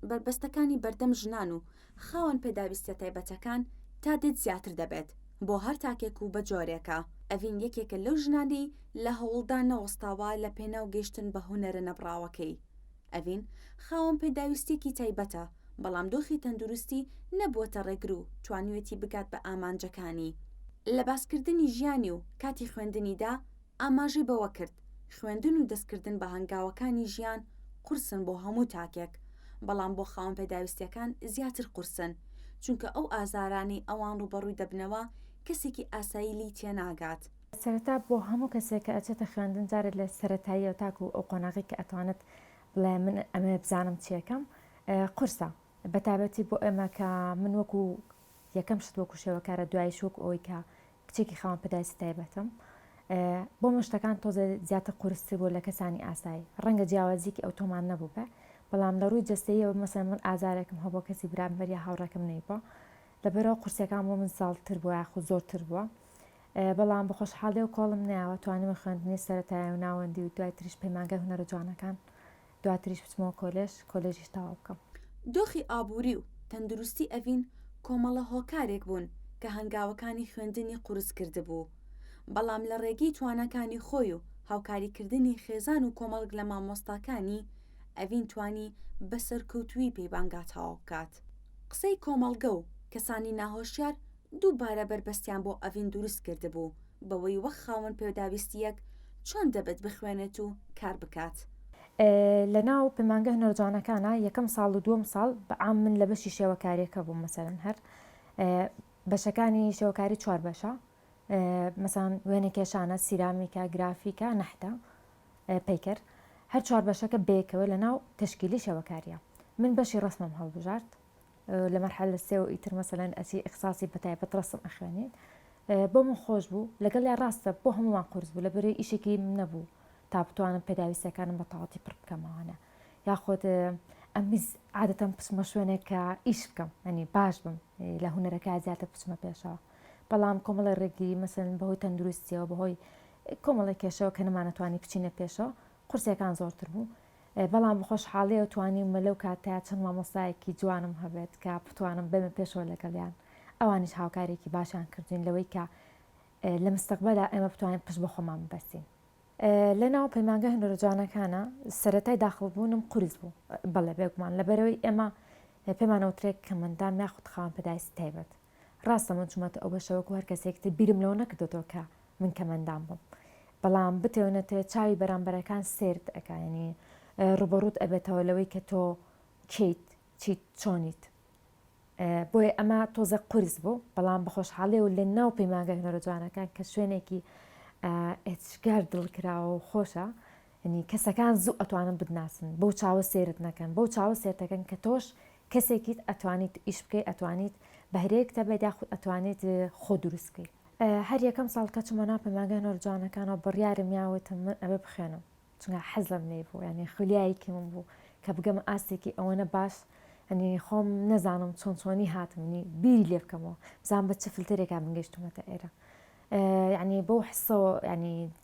بەربەستەکانی بەردەم ژنان و خاوەن پێداویستیە تایبەتەکان تا دێت زیاتر دەبێت بۆ هەر تاکێک و بە جۆرێکە، ئەڤین یەکێکە لەو ژنانەی لە هەوڵدا نەوەستاوە لە پێناو گەیشتن بە هونەرە نەبڕاوەکەی. ئەڤین خاوەن پێداویستیەکی تایبەتە، بەڵام دۆخی تەندروستی نەبووەتە ڕێگر و توانیوێتی بگات بە ئامانجەکانی لە باسکردنی ژیانی و کاتی خوێندنیدا، ئاماژەی بەوەکرد، خوێندن و دەستکردن بە هەنگاوەکانی ژیان قورسن بۆ هەموو تاکێک، بەڵام بۆ خاوەن پێداویستییەکان زیاتر قورسن، چونکە ئەو ئازارانەی ئەوان ڕووبەڕووی دەبنەوە کەسێکی ئاسایی لێی تێناگات. سەرەتا بۆ هەموو کەسێک کە ئەچێتە خوێندن جارێ لە سەرەتاییەوە تاکوو ئەو قۆناغەی کە ئەتوانێت بڵێ من ئەمەوێ بزانم چییەکەم قورسە، بەتایبەتی بۆ ئێمە کە من وەکوو یەکەم شت وەکوو شێوەکارە دواییش وەکوو ئەوەی کە کچێکی خاوەن پەدایسی تایبەتم. بۆمن شتەکان تۆزێ زیاتر قورستر بوو لە کەسانی ئاسایی. ڕەنگە جیاوازیکی ئەوتۆمان نەبووبێ، بەڵام لە ڕووی جەستەییەوە مەسەلەن من ئازارێکم هەبووە کەسی برامبەر یا هاوڕێکەم نەیبا. لەبەرئەوە قورسییەکان بۆ من زاڵتر بووە یاخود زۆرتر بووە. بەڵام بە خۆشحاڵییەوە کۆڵم نایەوە، توانیومە خوێندنی سەرەتایی و ناوەندی و دوای تریش پەیمانگای هونەرە جوانەکان دواتریش بچمەوە کۆلێژ، کۆلێژیش تەواو بکەم. دۆخی ئابووری و تەندروستی ئەڤین کۆمەڵە هۆکارێک بوون کە هەنگاوەکانی خوێندنی قورس کردبوو، بەڵام لە ڕێگەی تواناکانی خۆی و هاوکاریکردنی خێزان و کۆمەڵک لە مامۆستاکانی، ئەڤین توانی بە سەرکەوتوویی پەیمانگا تەواو بکات. قسەی کۆمەڵگە و کەسانی ناهۆشیار دووبارە بەربەستیان بۆ ئەڤین دروست کردبوو بەوەی وەک خاوەن پێداویستییەک چۆن دەبێت بخوێنێت و کار بکات. لە ناو پەیمانگە هونەرجوانەکانە یەکەم ساڵ و دووەم ساڵ بە عام من لە بەشی شێوەکاریەکە بووم مەسەلەن هەر بەشەکانی شێوەکاری چوار بەشە مەسان وێنە کێشانە سیرامیکە گرافیکە نەحتە پیکەر هەر چوار بەشەکە بێکەوە لە ناو تشکیلی شێوەکاریە من بەشی ڕسمم هەڵبژارد لە مەرحەلە سێ و ئیتر مەسەلەن ئەچی ئیخساسی بە تایبەت ڕەسم ئەخوێنیت بۆ من خۆش بوو لەگەڵ یا ڕاستە بۆ هەمووان قرس بوو لە بەرەی ئیشێکی نەبوو تا بتوانم پێداویستەکانم بە تەواتی پڕ بکەمەوانە یاخۆت ئەمیز عادەتەم پچمە شوێنێک کە ئیش بکەم ئەنی باش بم لە هوەرەکە زیاتر پچمە پێشەوە بەڵام کۆمەڵی ڕێگری مەسن بەهۆی تەندروستیەوە بەهۆی کۆمەڵی کێشەوە کە نەمانەتوانی بچینە پێشەوە قورسەکان زۆرتر بوو بەڵام بەخۆشحاڵیەوە توانیومە لەو کاتەیا چەند مامۆستایەکی جوانم هەبێت کە بتوانم بەمە پێشەوە لەگەڵیان ئەوانیش هاوکاریەکی باشیان کردوین لەوەی کە لە مستەقبەلا ئێمە بتوانین پشت بە خۆمان ببەستین. لە ناو پەیمانگە هەنۆرە جوانەکانە سەتای داخڵبوونم قورس بوو بەڵێ بێگومان لەبەرەوەی ئێمە پێمانەوترێک کەمەندام یاخود خاوەن پێداویستی تایبەت ڕاستە من چوومەتە ئەو بەشە وەکو هەر کەسێکی تر بیرم لەوە نەکردۆتەوە کە من کەمەندان بووم بەڵام بتێونەتێ چاوی بەرامبەرەکان سرد ئەکایانی ڕوبەڕوت ئەبێتەوە لەوەی کە تۆ کیت چیت چۆنیت بۆیە ئەمە تۆزە قرس بوو بەڵام بەخۆشحاڵێ و لە ناو پەیمانگە هەرە جوانەکان کە شوێنێکی ئەچگار دڵکراوە و خۆشە یەعنی کەسەکان زوو ئەتوانن بتناسن بەو چاوە سێرت نەکەن بەو چاوە سێرتەکەن کە تۆش کەسێکیت ئەتوانیت ئیش بکەی ئەتوانیت بەهرەیەک تەبێت یاخود ئەتوانیت خۆ دروست کەی هەر یەکەم ساڵ کە چومە ناو پەیمانگای هونەرە جوانەکانەوە بڕیارم یا وتم من ئەبێ بخوێنم چونکە حەز لەم لێی بوو یعنی خولیایەکی من بوو کە بگەمە ئاستێکی ئەوەنە باش ئەنی خۆم نەزانم چۆن چۆنی هاتمنی بیری لێ بکەمەوە بزان بە چ فلتەرێکا من گەشتومەتە ئێرە یعنی بەو حسەوە ینی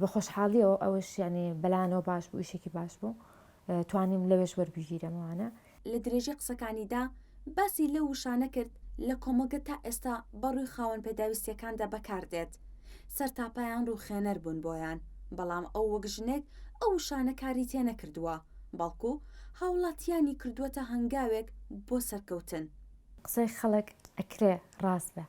بە خۆشحاڵیەوە ئەوش یانی بەلانەوە باش بوو ئیشێکی باش بوو توانیم لەوێش وەربگیرێمەوانە. لە درێژەی قسەکانیدا باسی لەو وشانە کرد لە کۆمەڵگە تا ئێستا بە ڕووی خاوەن پێداویستیەکاندا بەکار دێت سەرتاپایان ڕووخێنەر بوون بۆیان بەڵام ئەو وەک ژنێک ئەو وشانە کاری تێ نەکردووە بەڵکو هاوڵاتیانی کردووەتە هەنگاوێک بۆ سەرکەوتن. قسەی خەڵک ئەکرێ ڕاست بێ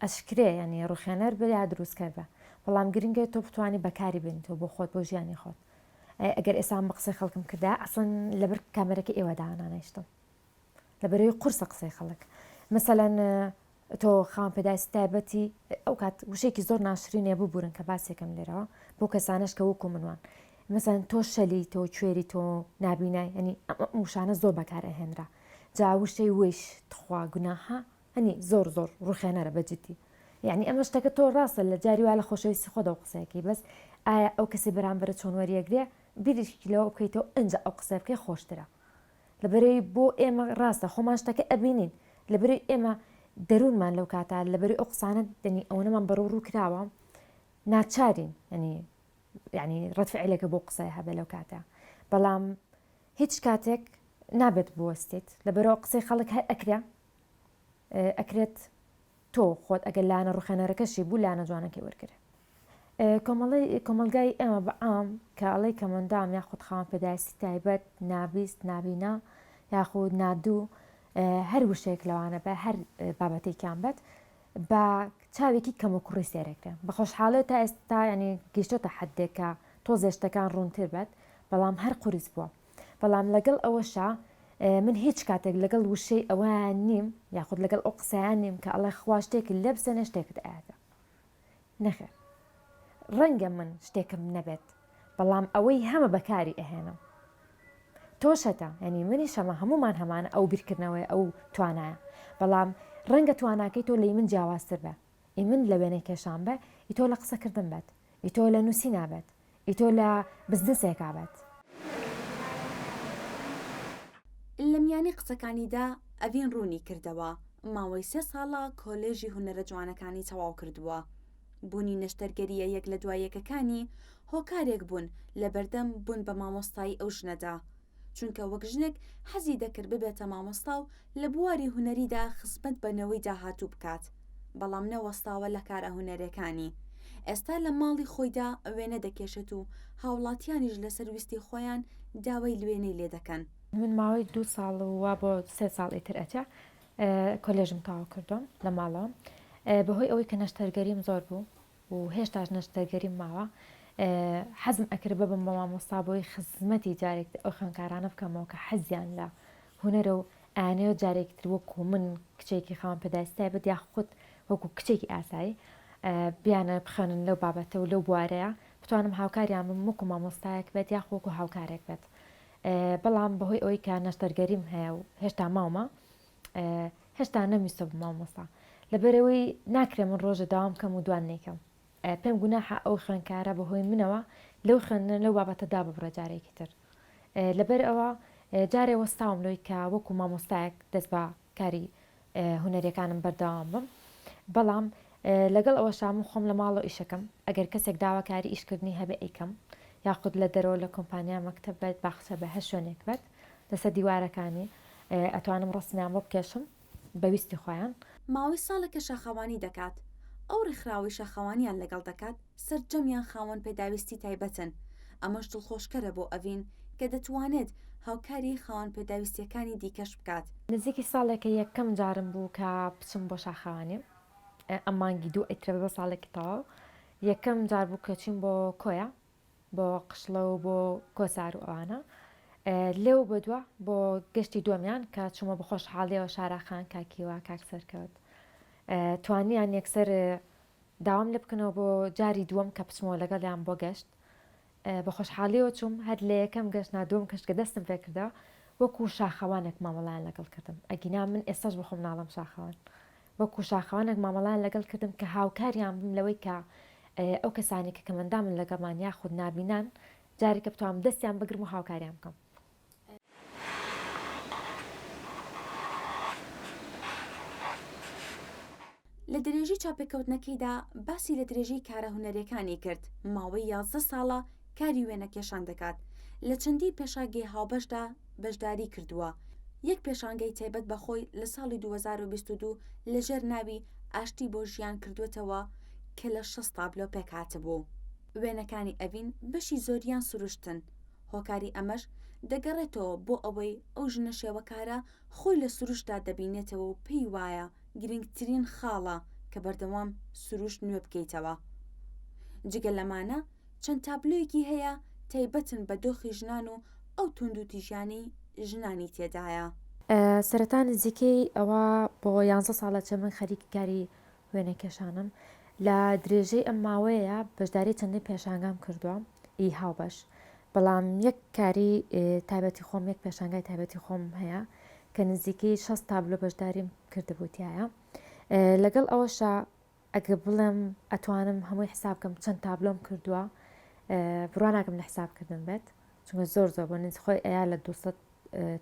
ئەشکرێ یانی ڕوخێنەر بە یا دروستکەر بە بەڵام گرنگە تۆ بتوانی بەکاری بێنیتەوە بۆ خۆت بۆ ژیانی خۆت ئەگەر ئێستا من بە قسەی خەڵکم کردا ئەسڵەن لەبەر کامێرەکە ئێوە دانانیشتم لەبەرەوەی قورسە قسەی خەڵک مەسەلەن تۆ خاوەن پێداویستی تایبەتی ئەو کات وشێکی زۆر ناشرینێ ببورن کە باسێکم لێرەوە بۆ کەسانش کە وەکو منوان مەسەن تۆ شەلی تۆ کوێری تۆ نابینای ئەنی ئەم وشانە زۆر بەکارە هێنرا جا وشەی وش تخوا گوناحە هەنی زۆر زۆر ڕوخێنەرە بە جدی یانی ئەمە شتەکە تۆ ڕاستە لە جاری وا لە خۆشەویستی خۆ دەو قسەکەی بەس ئایا ئەو کەسی بەرامبەرە چۆن وەریەگرێ بیریشکی لەوە بکەیتەوە ئەنجا ئەو قسە بکەی خۆشترە لەبەرەی بۆ ئێمە ڕاستە خۆمان شتەکە ئەبینین لەبەری ئێمە دەروونمان لەو کاتا لەبەری ئەو قسانە دەنی ئەوەنەمان بەڕوو ڕوو کراوە ناچارین ینی ینی ڕەتفعلەکە بۆ قسە هەبێ لەو کاتە بەڵام هیچ کاتێک نابێت بوەستێت لەبەرەوە قسەی خەڵک هەر ئەکرێ ئەکرێت تۆ خۆت ئەگەر لایەنە ڕوخێنەرەکەشی بوو لایەنە جوانەکەی وەرگرێ کۆمەلگای ئێمە بە ئام کە ئەڵی کەمەندام یاخود خاوەن پێداویستی تایبەت نابیست نابینا یاخود نادوو هەر وشێک لەوانە بە هەر بابەتێکیان بێت بە چاوێکی کەم و کوڕی سێرەکرێن بە خۆشحاڵێت تا ئێستا ینی گەشتۆتە حدێکە تۆ زێشتەکان ڕوونتر بێت بەڵام هەر قوریس بووە بەڵام لەگەڵ ئەوەشا من هیچ کاتێک لەگەڵ وشەی ئەوان نیم یاخود لەگەڵ ئەو قسەیان نیم کە ئەڵێ خوا شتێکی لێ بسێنە شتێکت ئاەتە نەخێر ڕەنگە من شتێکم نەبێت بەڵام ئەوەی هەمە بەکاری ئەهێنم تۆشەتە ینی منی شەمە هەمومان هەمانە ئەو بیرکردنەوەی ئەو توانایە بەڵام ڕەنگە تواناکەی تۆ لی من جیاوازتر بە ئی من لە وێنەی کێشان بە ئی تۆ لە قسەکردن بێت ئی تۆ لە نووسی نابێت ئیتۆ لە بزنسێکا بەت. لە میانی قسەکانیدا ئەڤین ڕوونی کردەوە، ماوەی سێ ساڵە کۆلێژی هونەرە جوانەکانی تەواو کردووە. بوونی نەشتەرگەرییە یەک لە دوای یەکەکانی هۆکارێک بوون لە بەردەم بوون بە مامۆستایی ئەو ژنەدا. چونکە وەک ژنێک حەزی دەکرد ببێتە مامۆستا و لە بواری هونەریدا خزمەت بە نەوەی داهاتوو بکات، بەڵام نەوەستاوە لە کارە هونەرێکانی، ئێستا لە ماڵی خۆیدا وێنە دەکێشێت و هاوڵاتیانیش لەسەر ویستی خۆیان داوای لوێنەی لێ دەکەن. من ماوەی دوو ساڵ و وا بۆ سێ ساڵ ئیتر ئەچێ کۆلێژم تەواو کردووم لە ماڵەوەم بەهۆی ئەوەی کە نەشتەرگەریم زۆر بوو، و هێشتاش نەشتەرگەریم ماوە حەزم ئەکرد ببم بە مامۆستا بۆی خزمەتی جارێک ئەو خوێندکارانە بکەمەوە کە حەزیان لە هونەرە و ئەیانەوێت جارێکی تر وەکو من کچێکی خاوەن پێداویستی تایبەت یا خود وەکو کچێکی ئاسایی بیانە بخوێنن لەو بابەتە و لەو بوارەیە بتوانم هاوکاریان بم وەکو مامۆستایەک بێت یاخ وەکو هاوکارێک بێت بەڵام بەهۆی ئەوەی کە نەشتەرگەریم هەیە و هێشتا ماومە هێشتا نەمیسۆ بم مامۆستا لەبەرەوەی ناکرێ من ڕۆژە داوام کەم و دوان نیکەم پێم گوناحە ئەو خوێنکارە بەهۆی منەوە لەو خوێندنە لەو بابەتە دا ببڕە جارێکی تر لەبەر ئەوە جارێ وەستاوم لۆی کە وەکو مامۆستایەک دەست بە کاری هوەرەکانم بەرداوام بم بەڵام لەگەڵ ئەوە شام خۆم لە ماڵەوە ئیشەکەم ئەگەر کەسێک داواکاری ئیشکردنی هەبێ ئەیکەم یاخود لە دەرەوە لە کۆمپانیا مەکتب بێت باخچە بە هەر شوێنێک بێت لەسەر دیوارەکانی ئەتوانم ڕەسمیان بۆ بکێشم بە ویستی خۆیان. ماوەی ساڵێکە شاخەوانی دەکات، ئەو ڕێکخراوەی شاخەوانیان لەگەڵ دەکات سەرجەمیان خاوەن پێداویستی تایبەتن، ئەمەش دڵخۆشکەرە بۆ ئەڤین کە دەتوانێت هاوکاری خاوەن پێداویستییەکانی دیکەش بکات. نزیکی ساڵێکە یەکەم جارم بوو کە بچم بۆ شاخەوانی، ئەم مانگی دوو ئەیترێ ببێ ساڵێکی تەواو، یەکەم جار بوو کە چووین بۆ کۆیە، بۆ قشڵە و بۆ کۆسار و ئەوانە لێو بەدوا بۆ گەشتی دووەمیان کە چوومە بە خۆشحاڵیەوە شاراخان کاکیوە کاک سەرکەوت توانیان یەکسەر داوام لە بکەنەوە بۆ جاری دووەم کە بچمەوە لەگەڵیان بۆ گەشت بە خۆشحاڵیەوە چوم هەر لە یەکەم گەشت نادوم کەشتگە دەستم پێکردەوە وەکو شاخەوانێک مامەڵیان لەگەڵ کردم ئەگینا من ئێستاش بخۆم ناڵم شاخەوان وەکو شاخەوانێک مامەڵەیان لەگەڵ کردم کە هاوکاریان بم لەوەی کە ئەو کەسانەی کە کەمەندامن لەگەڵمان یاخود نابینان جارێکە بتوانم دەستیان بگرم و هاوکاریان بکەم. لە درێژەی چاوپێکەوتنەکەیدا باسی لە درێژەی کارە هونەریەکانی کرد، ماوەی یازدە ساڵە کاری وێنەکێشان دەکات، لە چەندین پێشانگەی هاوبەشدا بەشداریی کردووە، یەک پێشانگەی تایبەت بە خۆی لە ساڵی دوو هەزار و بیست و دوو لەژێر ناوی ئاشتی بۆ ژیان کردووەتەوە کە لە شەست تابلۆ پێکهاتبوو. وێنەکانی ئەڤین بەشی زۆریان سروشتن، هۆکاری ئەمەش دەگەڕێتەوە بۆ ئەوەی ئەو ژنە شێوەکارە خۆی لە سروشتدا دەبینێتەوە و پێی وایە گرنگترین خاڵە کە بەردەوام سروشت نوێ بکەیتەوە. جگە لەمانە، چەند تابلۆیەکی هەیە تایبەتن بە دۆخی ژنان و ئەو توندوتیژیانەی ژنانی تێدایە. سەرەتا نزیکەی ئەوا بۆ یانزە ساڵە چە من خەریکی کاری وێنەکێشانم. لە درێژەی ئەم ماوەیە بەشداری چەندین پێشانگام کردووە ی هاوبەش. بەڵام یەک کاری تایبەتی خۆم یەک پێشانگای تایبەتی خۆم هەیە کە نزیکەی شەست تابلۆ بەشداریم کردبوو تیایا. لەگەڵ ئەوەشا ئەگە بڵێم ئەتوانم هەمووی حساب کەم چەند تابلۆم کردووە بڕوا ناکەم لە حساب کردن بێت چونکە زۆر زۆر بۆ ننج خۆی ئەیا لە 200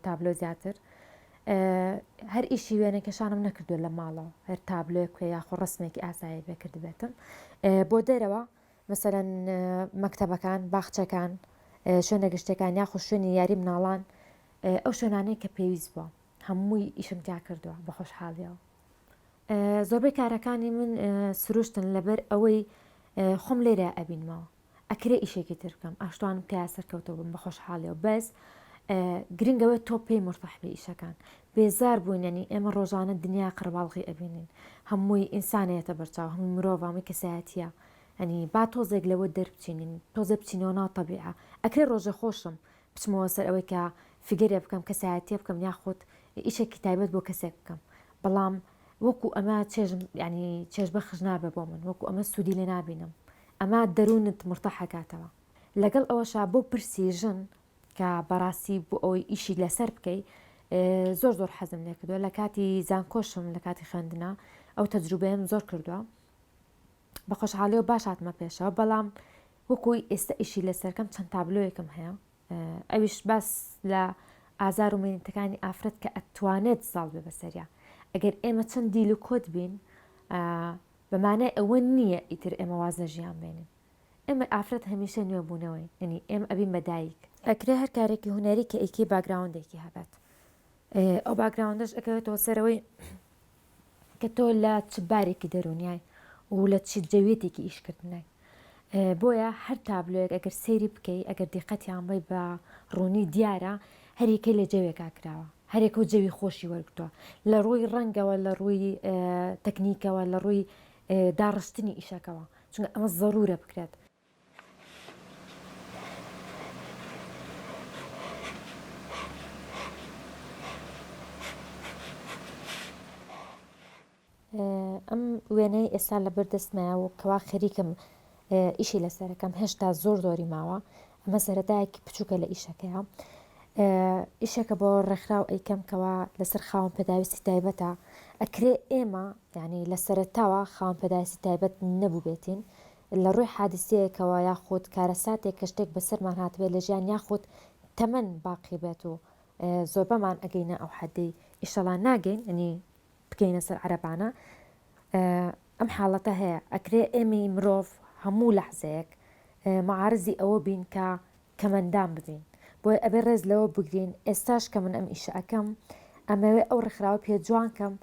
تابلۆ زیاتر هەر ئیشی وێنەکەشانم نەکردو لە ماڵەوە هەر تابلۆێک کوێ یاخۆ ڕستمێکی ئاسایی بێکردبێتم بۆ دەرەوە مەسەرەن مەکتتەبەکان باخچەکان شوێنە گشتەکان یاخۆ شوێنی یاری مناڵان ئەو شوێنانەیە کە پێویست بووە هەمووی ئیشم تیا کردووە بە خۆشحاڵیەوە زۆربەی کارەکانی من سروشتن لەبەر ئەوەی خۆم لێرە ئەبینمەوە ئەکرێ ئیشێکی ترکەم ئاشتوانم تیا سەرکەوتە بم بە خۆشحاڵیەوە بەس گرنگەوە تۆ پێی مرتەحبی ئیشەکان بێزار بووینەنی ئێمە ڕۆژانە دنیا قڕباڵغی ئەبینین هەمووی ئینسانەتە بەرچاو هەموو مرۆڤامی کەسایەتە ئەنی با تۆزێک لەوە دەربچینین تۆزە بچینەوە ناو تەبیعە ئەکرێ ڕۆژە خۆشم بچمەوە سەر ئەوەی کە فیگەرێ بکەم کەسایەتیە بکەم یاخود ئیشێکی تایبەت بۆ کەسێک بکەم بەڵام وەکو ئەمە چێژم ینی چێژ بەخش نابێ بۆ من وەکو ئەمە سوودی لێ نابینم ئەمە دەروونت مرتەحەکاتەوە لەگەڵ ئەوەشا بۆ پرسی ژن کە بەڕاستی بۆ ئەوەی ئیشی لەسەر بکەی زۆر زۆر حەزم لێکردووە لە کاتی زانکۆشم لە کاتی خوێندنا ئەو تەجروبەیەم زۆر کردووە بە خۆشحاڵیەوە باش هاتمە پێشەوە بەڵام وەکو ئێستا ئیشی لەسەرکەم چەند تابلۆیەکم هەیە ئەویش باس لە ئازار و مینتەکانی ئافرەت کە ئەتوانێت زاڵ بێ بەسەریا ئەگەر ئێمە چەند دیل و کۆت بین بەمانای ئەوە نییە ئیتر ئێمە واز لە ژیان بێنین ئێمە ئافرەت هەمیشە نوێبوونەوەی ینی ئێمە ئەبین بەدایک ئەکرێ هەر کارێکی هوەری کە ئیکی باگراوندێکی هەبێت ئەو باگراوندەش ئەکەوێتەوە سەرەوەی کە تۆ لە چ بارێکی دەرونیای و لە چ جەوێتێکی ئیشکردنای بۆیە هەر تابلۆیەک ئەگەر سەیری بکەی ئەگەر دیقەتیان بی بە ڕوونی دیارە هەریکەی لە جەوێکا کراوە هەرێک و جەوی خۆشی وەرگتووە لە ڕووی ڕەنگەوە لە ڕووی تەکنیکەوە لە ڕووی داڕشتنی ئیشەکەەوە چونکە ئەمە زەرورە بکرێت ئەم وێنەی ئێستا لە بەردەستمایە و کەوا خەریکم ئیشی لەسەرەکەم هێشتا زۆر زۆری ماوە ئەمە سەرەتایەکی بچووکە لە ئیشەکەیە ئیشەکە بۆ ڕێکخراو ئەیکەم کەوا لەسەر خاوەن پێداویستی تایبەتە ئەکرێ ئێمە ینی لە سەرتاوە خاوەن پێداویستی تایبەت نەبووبێتین لە ڕووی حادیسەیەکەوە یاخود کارەساتێک کە شتێک بەسەرمان هاتبێت لە ژیان یاخود تەمەن باقی بێت و زۆربەمان ئەگەینە ئەو حەدەی ئیشەڵا ناگەین ئەنی بگەینە سەر عەرەبانە ئەم حاڵەتە هەیە ئەکرێ ئێمەی مرۆڤ هەموو لەحزەیەک معارزی ئەوە بین کە کەمەندان ببین بۆی ئەبێ ڕێز لەوە بگرین ئێستاش کە من ئەم ئیشە ئەکەم ئەمەوێ ئەو ڕێکخراوە پێ جوان کەم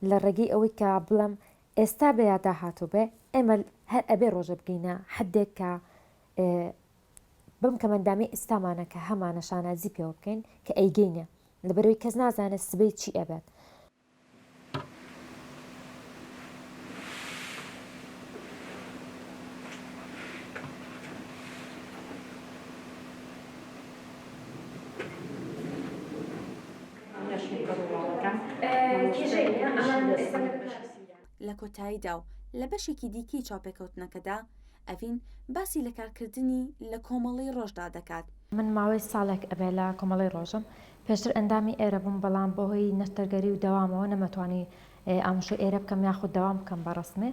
لە ڕێگەی ئەوەی کە بڵم ئێستا بێ یا داهاتووبێ ئێمە هەر ئەبێ ڕۆژێ بگەینە حەدێک کە بەم کەمەندامی ئیستامانە کە هەمانە شانازی پێوە بکەین کە ئەیگەینێ لەبەرەوەی کەس نازانێت سبەی چی ئەبێت. لە کۆتاییدا و لە بەشێکی دیکەی چاوپێکەوتنەکەدا، ئەڤین باسی لە کارکردنی لە کۆمەڵەی ڕۆژدا دەکات. من ماوەی ساڵێک ئەبێ لە کۆمەڵەی ڕۆژم. پێشتر ئەندامی ئێرە بووم، بەڵام بەهۆی نەشتەرگەری و دەوامەوە نەمەتوانی ئامشۆی ئێرە بکەم یاخود دەوام بکەم بە ڕەسمی.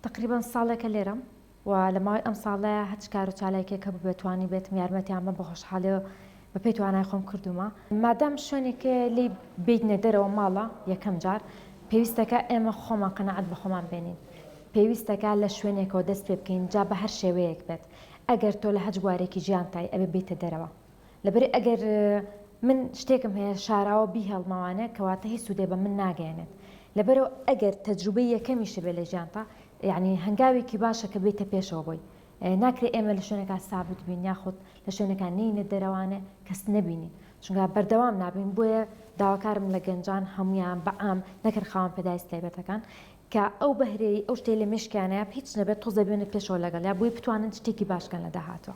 تەقریبەن ساڵێکە لێرەم و لە ماوەی ئەم ساڵەیا هەرچ کار و چالاکییەک هەبووبێت توانیبێتم یارمەتیان بەم بە خۆشحاڵی و بەپێی توانای خۆم کردوومە. مادام شوێنێک لێی بێینە دەرەوە ماڵە یەکەم جار پێویستەکا ئێمە خۆمان قەناعەت بە خۆمان بێنین، پێویستەکا لە شوێنێکەوە دەست پێ بکەین جا بە هەر شێوەیەک بێت، ئەگەر تۆ لە هەچ بوارێکی ژیانتای ئەبێ بێیتە دەرەوە. لەبەر ئەگەر من شتێکم هەیە شاراوە بیهێڵمەوانێ کەواتە هیچ سوودێ بە من ناگەێنێت لەبەرەوە ئەگەر تەجروبەی یەکەمیشە بێ لە ژیانتا یعنی هەنگاوێکی باشە کە بێتە پێشەوە بۆی ناکرێت ئێمە لە شوێنەکە سابت بین یاخود لە شوێنەکان نینە دەرەوانێ کەس نەبینین چونگا بەردەوام نابین بۆیە داواکارم لە گەنجان هەمویان بەعام نەکەر خاوەن پێداویست تایبەتەکان کە ئەو بەهرەی ئەو شتێ لە مشکیانەیە هیچ نەبێت تۆزە بێنە پێشەوە لەگەڵ یا بۆی بتوانن شتێکی باشکەن لە داهاتوە.